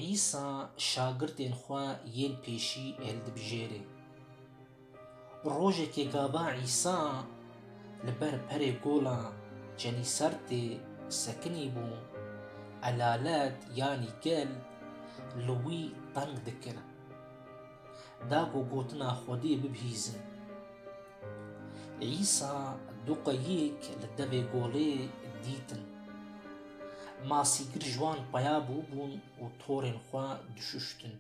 Îsa şagirtên xwe yên pêşî hildibijêrê. Rojekê gava Îsa li ber perê gola Cenîsertê sekinî bû, elalet yanî gel li wî teng dikir. Da ku gotina Xwedê bibihîzin. Îsa du qoyîk li devê golê dîtin. Masîgir ji wan peya bûbûn û torên xwe dişuştin.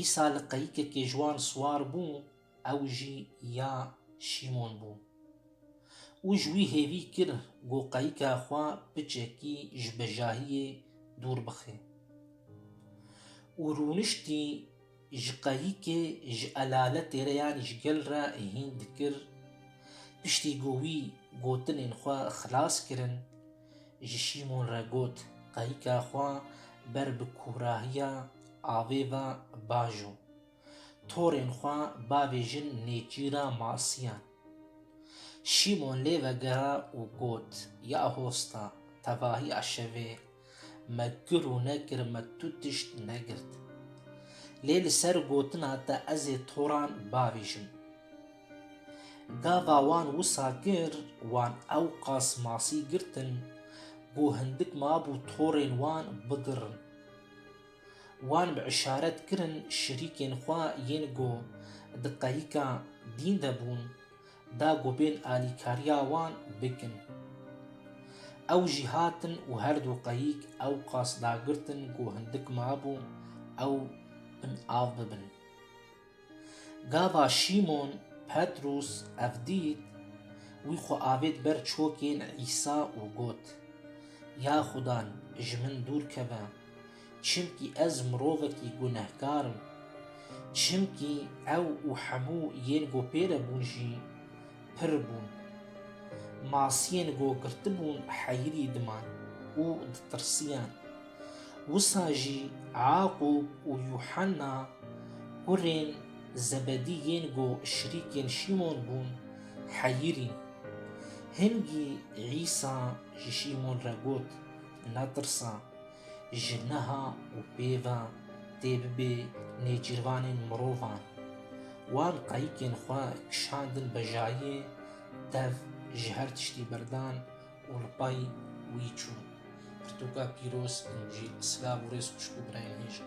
Îsa li qeyîkekê ji wan siwar bû, ew jî ya Şîmon bû. Û ji wî hêvî kir ku qeyîka xwe piçekî ji bejahiyê dûr bixe. Û rûniştî Ji qayîkê, ji elaletê re yanî ji gel re hîn dikir. Piştî ku wî gotinên xwe xilas kirin, ji Şîmon re got, Qayîka xwe ber bi kûrahiya avê ve bajo. Torên xwe bavêjin nêçîra masiyan. Şîmon lê vegera û got, Ya hosta, tevahiya şevê, Me kir û nekir me tu tişt negirt. Lê li ser gotina te ez ê toran bavêjim. Gava wan wisa kir, wan ewqas masî girtin ku hindik mabû torên wan bigirin. Wan bi işaret kirin şirîkên xwe yên ku di qehîka dîn de bûn da ku bên alîkariya wan bikin. Ew jî hatin û her du qayîk ew qas dagirtin ku hindik mabû ew bin av bibin. Gava Şîmon, Petrûs, ev dît, wî xwe avêt ber çokên Îsa û got, Ya Xudan, ji min dûr keve, Çimkî ez mirovekî gunehkar im. Çimkî ew û hemû yên ku pê re bûn jî pir bûn. Masiyên ku girtibûn heyirî diman û ditirsiyan. Wisa jî Yaqûb û Yuhanna kurên Zebedî yên ku şirîkên Şîmon bûn heyirîn. Hingî Îsa ji Şîmon re got, Netirsa, Ji niha û pêva tê bibê nêcîrvanên mirovan. Wan qayikên xwe kişandin bejayê, dev ji her tiştî berdan û li pay wî çûn. Pirtûka pîroz û jî silav û rêz xwişk û birayên hêja.